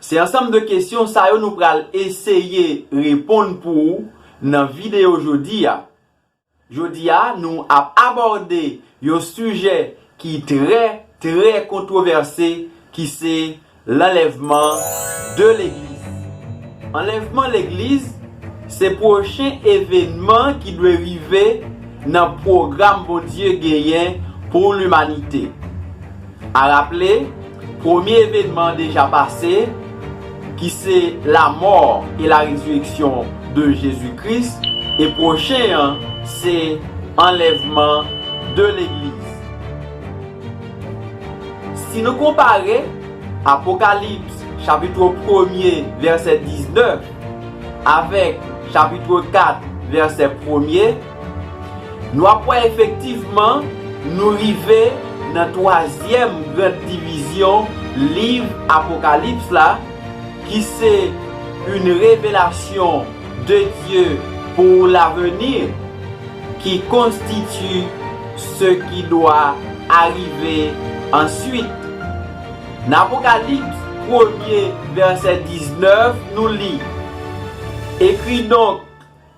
Se ansanm de kesyon sa yo nou pral eseye reponn pou ou nan videyo jodi a. Jodi a nou ap abòde yon sijè ki trè, trè kontwovèse ki se lanlèvman de legliz. Anlèvman legliz se pwochen evenman ki dwe rive nan pwogram Bondye genyen pou limanite. A raple, premye evenman an deja pase, ki se lamò e la rezireksyon de Jezi Kris, e pwochen an se anlèvman de legliz. Si nou konpare, Apokalips chapitro premye vèsè 19 avèk chapitro 4 vèsè premye, Nou ap wè efektivman nou rive nan twazyèm gran divizyon liv Apokalips la ki se une révélation de Dieu pour l'avenir qui constitue ce qui doit arriver ensuite. Nan Apokalips premye vèsè 19 nou li, Ekri donk,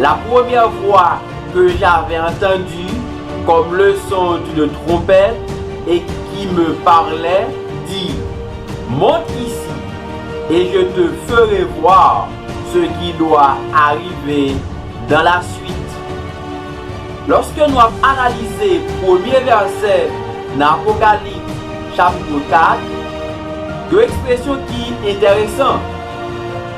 La premyè fwa ke j'avais entendu comme leçon d'une trompette et qui me parlait, dit, Monte ici, et je te ferai voir ce qui doit arriver dans la suite. Lòske nou ap analize premye vèsè nan Apokalips chapitre 4, yon ekspresyon ki enteresan.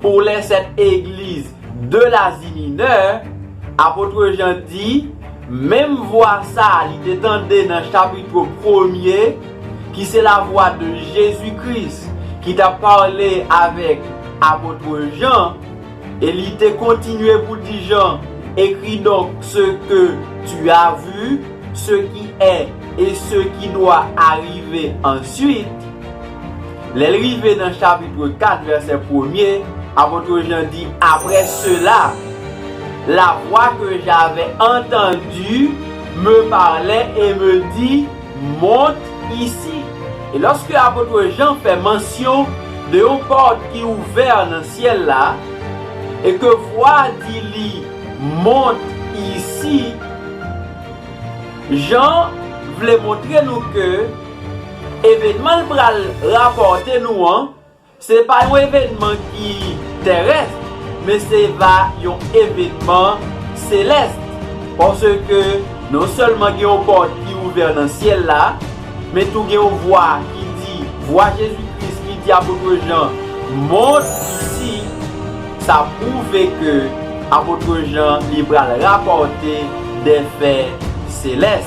Pou lè sèt egliz de Lazi Minè, apotre Jan di, menm vwa sa a li te tande nan chapitro premye, ki se lavwa de Jezi Kris ki t ap pale avèk apotre Jan, e li te kontinye pou di Jan, Ekri donk se ke tu a vu, se ki è e se ki dwa arive ansuit. Lè l rive nan chapitre 4 vèsè premye, apotre Jan di, Apre sela, lavwa ke j'avais entendue me parlait et me dit, Monte ici. E lòske apotre Jan fè mansyon de yon pòt ki ouvè nan syèl la, e ke vwa a di li, Monte ici, Jan vle montre nou ke, Evenman l pral rapòte nou an, se pa yon evenman ki terès, men se va yon evenman selès, paske non sèlman gen yon pòt ki ouvè nan syèl la, men tou gen yon vwa ki di, vwa Jezi Kris ki di Apotre Jan, Monte ici, sa pwouve ke Apotre Jan li pral rapòte dè fè selès.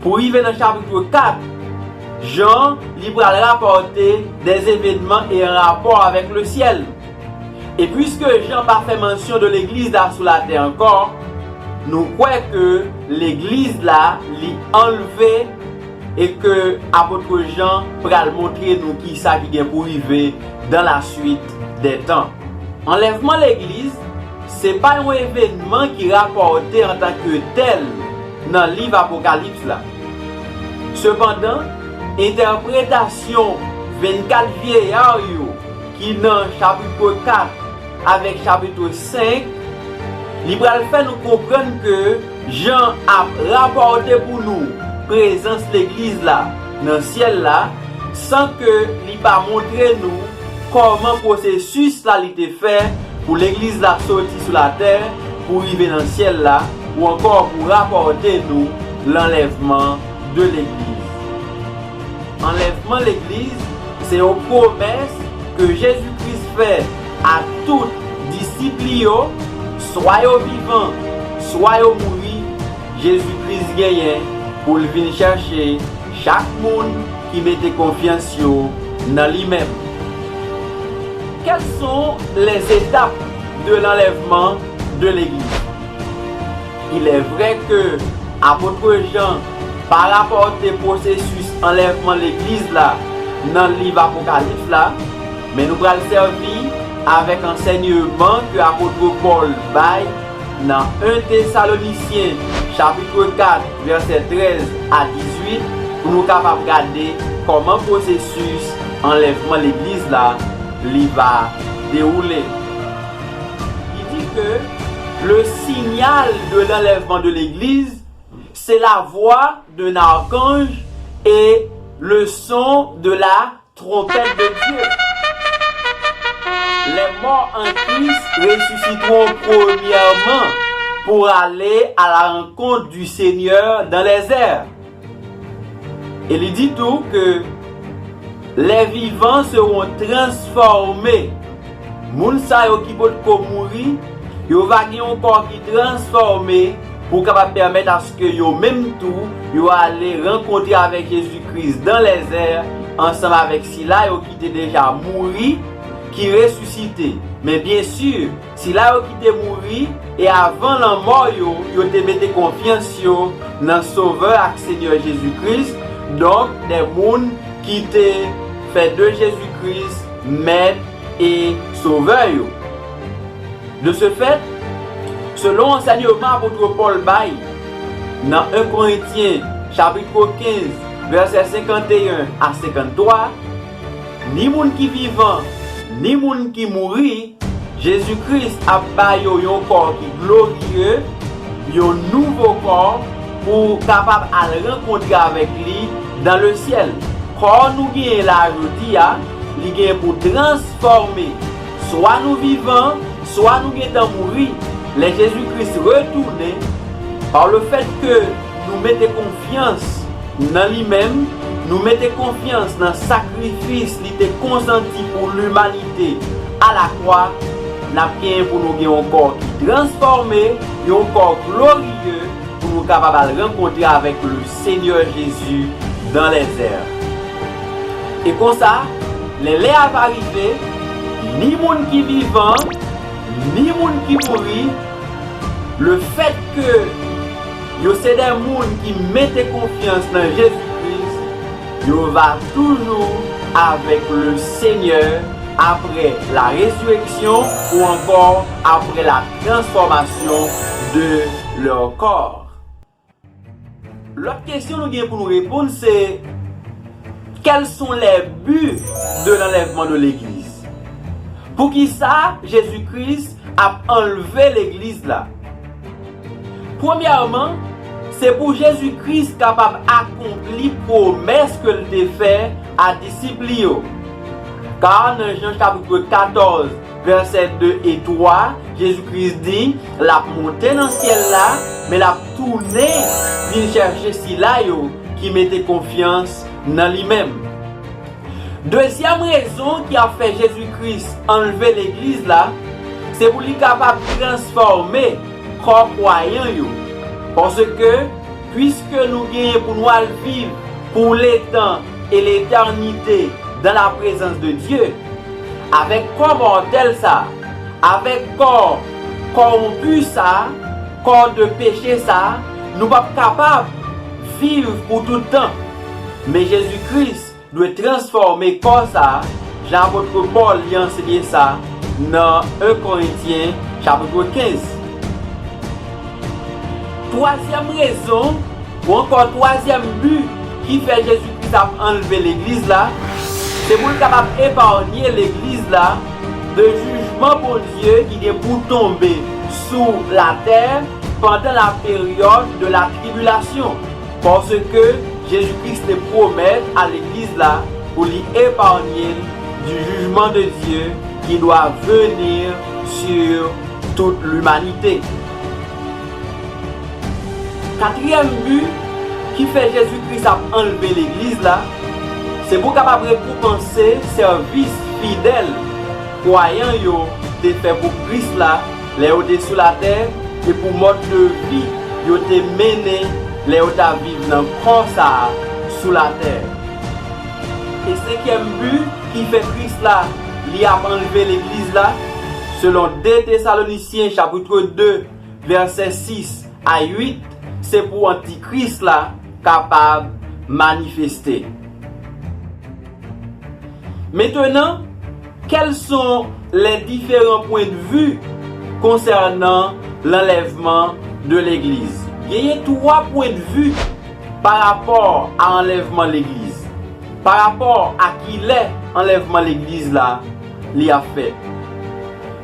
Pou rive nan chapitre 4, Jan, li pral rapòte de evenman e an rapò avèk le syèl. E pwiske Jan pa fè mansyon de legliz la sou latè ankò, nou kwè ke legliz la li anlve e ke apotre Jan pral montre nou kisa ki gen pou rive dan la swit dè tan. Anlèvman legliz. Se pa yon evènman ki rapòte antanke tèl nan liv Apokalips la. Sepandan, entèpretasyon vennkat vyeya yo ki nan Chapitre 4 avèk Chapitre 5, li pral fè nou konprann ke, Jan ap rapòte pou nou prezans Legliz la nan syèl la, san ke li pa montre nou kòman pwosesis la li te fè pou Legliz la soti sou latè pou rive nan syèl la, ou ankò pou rapòte nou lanlèvman de Legliz. Anlèvman Legliz se yon pwomès ke Jezi Kris fè. Ak tout disip li yo, swa yo vivan, swa yo mouri, Jezi Kris genyen pou l vin chèche chak moun ki mete konfyans yo nan li menm. Quelles sont les étapes de l'enlèvement de l'Eglise? Il est vrai que Apôtre Jean pa rapòte pwosesis anlèvman legliz la nan liv Apokalips la, Men nou pral sèvi avèk ansènyeman ke apotre Pòl bay nan 1 Tesalonisyen chapitre 4 vèsè 13 a 18 pou nou kapab gade kòman pwosesis anlèvman legliz la li va dewoule. Li di ke le signal de l'enlèvement de l'Eglise se la voix d'un archange et le son de la Tronpèt de Dye! Lè mò an Kris resisitron premyèman pou ale a la rankont di Senyè dan lèzè. E li di tou ke lè vivan seron transfòme. Moun sa yo ki potko mouri, yo va gen yon kò ki transfòme pou kapab pèmèt aske yo menm tou yo ale rankontre avèk Jezi Kris dan lèzè ansanm avèk sila yo ki te deja mouri ki resisite. Men byen si, sila yo ki te mouri e avan lanmò yo, yo te mete konfyans yo nan Sovè ak Senyè Jezi Kris, donk de moun ki te fè de Jezi Kris, Mèt e Sovè yo. De se fèt, selon ansènyman apot Pòl bay nan 1 Korentyen chapitro 15 vèsè 51 a 53, ni moun ki vivan ni moun ki mouri, Jezi Kris ap ba yo yon kò ki gloriye, yon nouvo kò pou kapab al rankontre avèk li, Dans le ciel, kò nou genyen la a jodi a, li genyen pou transfòme. Swa nou vivan, swa nou gentan mouri, lè Jezi Kris retounen, par le fait ke nou mete konfyans nan li menm, nou mete konfyans nan sakrifis li te konsanti pou limanite a la kwa, n ap genyen pou nou gen yon kò ki transfòme, yon kò gloriye pou nou kapab al rankontre avèk le. Senyè Jezi dan lèzè. E konsa, lè lè a va rive, ni moun ki vivan, ni moun ki mouri, lefètke yo se de moun ki mete konfyans nan Jezi Kris, yo va toujou avèk Lesenyè apre la rezireksyon ou ankò apre la transfòmasyon de lè kò. Lòt kesyon nou gen pou nou reponn se, Quels sont les buts de l'enlèvement de l'Eglise? Poukisa Jezi Kris ap anlve Legliz la? Premyèman, se pou Jezi Kris kapab akonpli pwomès ke l te fè a disip li yo. Car nan Jean chapitre 14, Vèsè 2 e 3, Jezi Kris di, L ap monte nan syèl la, men l ap tounen vin chèche sila yo ki mete konfyans nan li menm. Dezyèm rezon ki ap fè Jezi Kris anlve legliz la, se pou li kapab transfòme kò kwayan yo. Paske, piske nou genyen pou nou al viv pou letan et l'éternité dans la présence de Dieu avèk kò mòtèl sa, avèk kò kòwonpi sa, kò de peche sa, nou p ap kapab viv pou tout tan. Men Jezi Kris dwe transfòme kò sa, jan apotre Pòl li anseye sa nan 1 Korentyen chapitre 15. Twazyèm rezon. Ou ankò twazyèm bi ki fè Jezi Kris ap anlve legliz la, se pou l kapab eparnye legliz la de jijman Bondye ki gen pou tonbe sou latè pandan la période de la tribulation, paske Jezi Kris te pwomèt a legliz la pou li eparnye l du jugement de Dieu qui doit venir sur toute l'humanité. Katriyèm bi ki fè Jezi Kris ap anlve Legliz la, se pou kapab rekonpanse sèvis fidèl kwayan yo te fè pou Kris la lè yo te sou latè e pou mòd de vi yo te mennen lè yo t ap viv nan kò sa a sou latè. E senkyèm bi ki fè Kris la li ap anlve Legliz la, selon 2 Tesalonisyen chapitre 2, vèsè 6 a 8 se pou antikris la kapab manifeste. Mentenan, kèlson lè diferan pwendvi konsènan lanlèvman de legliz? Genyen 3 pwendvi pa rapò a anlèvman legliz, pa rapò a kilè anlèvman legliz la li ap fèt.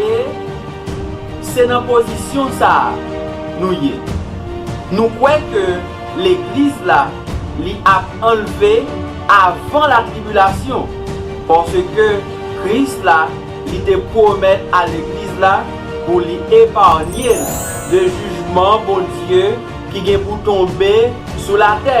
E se nan pozisyon sa a nou ye. Nou kwè ke Legliz la li ap anlve avan latribilasyon, paske Kris la li te pwomèt a Legliz la pou li eparnye l de jijman Bondye ki gen pou tonbe sou latè.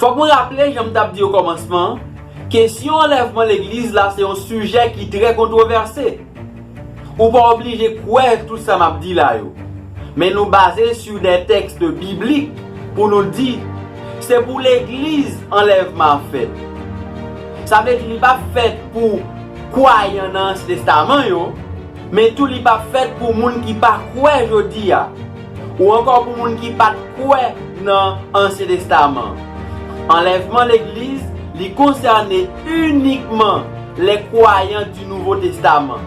Fòk mwen raple, jan m t ap di okòmansman an, kesyon anlèvman legliz la se yon sijè ki trè kontwovèse. Ou pa oblije kwè tout sa m ap di la yo. Men nou baze sou de tèks biblik pou nou di, se pou legliz anlèvman ap fèt. Sa vle di li p ap fèt pou kwayan nan Ansyen Testaman yo, men tou li p ap fèt pou moun ki pa kwè jodi a. Ou ankò pou moun ki pat kwè nan ansyen testaman. Anlèvman legliz li konsène inikman lè kwayan di nouvo testaman.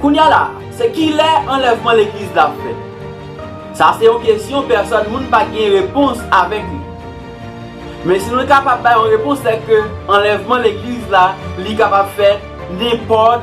Kounya la se kilè anlèvman legliz la fèt? Sa se yon kesyon pèsòn moun pa gen repons avèk li. Men si nou kapab bay yon repons sèke anlèvman legliz la li kapab fèt nenpòt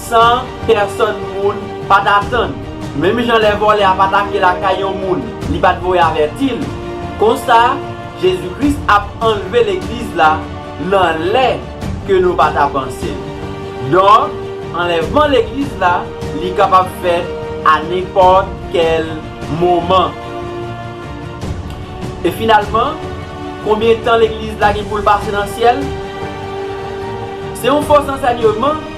San pèsòn moun pa t atann. Menm jan lè vòlè ap atake lakay yon moun li pa t voye avèti l, konsa Jezi Kris ap anlve Legliz la nan lè ke nou pa ta panse. Donk, anlèvman Legliz la, li kapab fèt a nenpòt kèl moman. E finalman, konbyen tan Legliz la gen pou l pase nan syèl? Se yon fo zansènyman.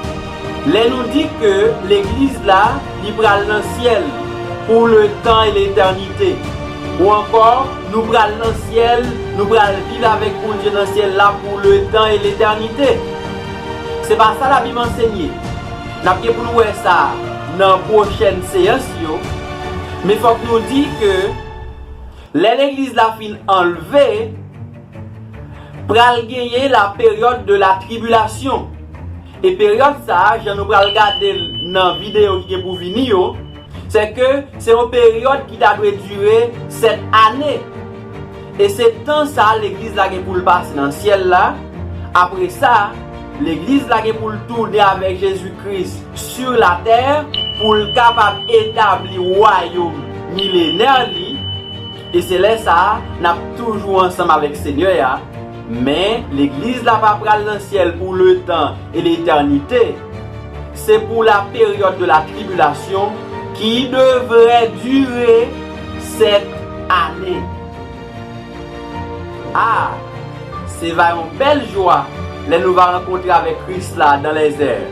Lè nou di ke legliz la li pral nan syèl pou le tan e letènite ou ankò nou pral nan syèl nou pral viv avèk Bondye nan syèl la pou le tan e letènite se pa sa labib ansenye nap gen pou nou wè sa nan pwochèn seyans yo men fòk nou di ke lè legliz la fin anlve. Pral genyen la période de la tribulation. E peryòd sa, jan nou pral gade l nan videyo ki gen pou vini yo, se ke se yon peryòd ki ta dwe dire 7 ane. E se tan sa legliz la gen pou l pase nan syèl la, apre sa, legliz la gen pou l tounen avèk Jezi Kris sur la tè pou l kapab etabli wayom milenè li, E se lè sa a, n ap toujou ansanm avèk Senyè a, men Legliz la pa pral nan syèl pou letan e letènite. Se pou la période de la tribulation ki devrait durer sept années. A! Se va yon bèl jwa lè nou va rankontre avèk Kris la dans les airs.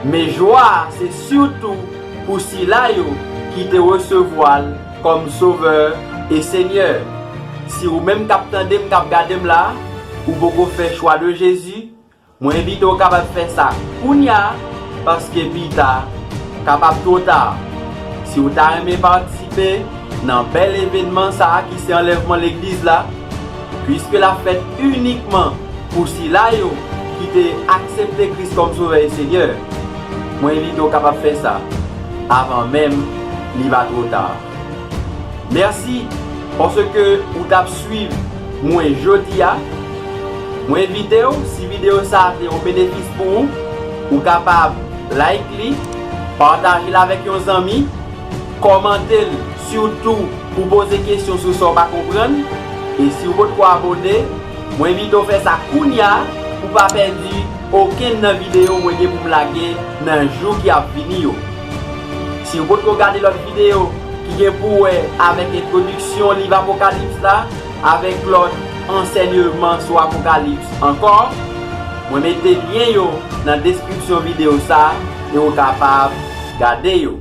Men jwa a se surtout pou sila yo ki te resevwa l Kòm Sovè e Senyè. Si ou menm kap tandem kap gadem la ou poko fè chwa de Jezi mwen envite w kapab fè sa kounya paske pita kapab two ta si ou ta renmen patisipe nan bèl evenman sa ki se anlèvman legliz la puiske lap fèt inikman pou sila yo ki te aksepte Kris kòm Sovè e Senyè mwen envite w kapab fè sa avan menm li pa two ta. Merci paske ou tap swiv mwen jodia. Mwen envitew si video sa te yon benefis pou ou, ou kapab like li, patajel avèk yon zanmi, kòmantel sitou pou poze kesyon sou sa ou pa konprann e siw potko abone, mwen envitew fè sa kounya pou pa pèdi okenn nan video mwen gen poum lage nan jou ki ap vini yo. Si ou potko gade lòt videyo ki gen pou wè avèk entwodiksyon liv Apokalips la avèk lòt ansènyeman sou Apokalips ankò, mwen mete lyen yo nan deskripsyon videyo sa e ou kapab gade yo.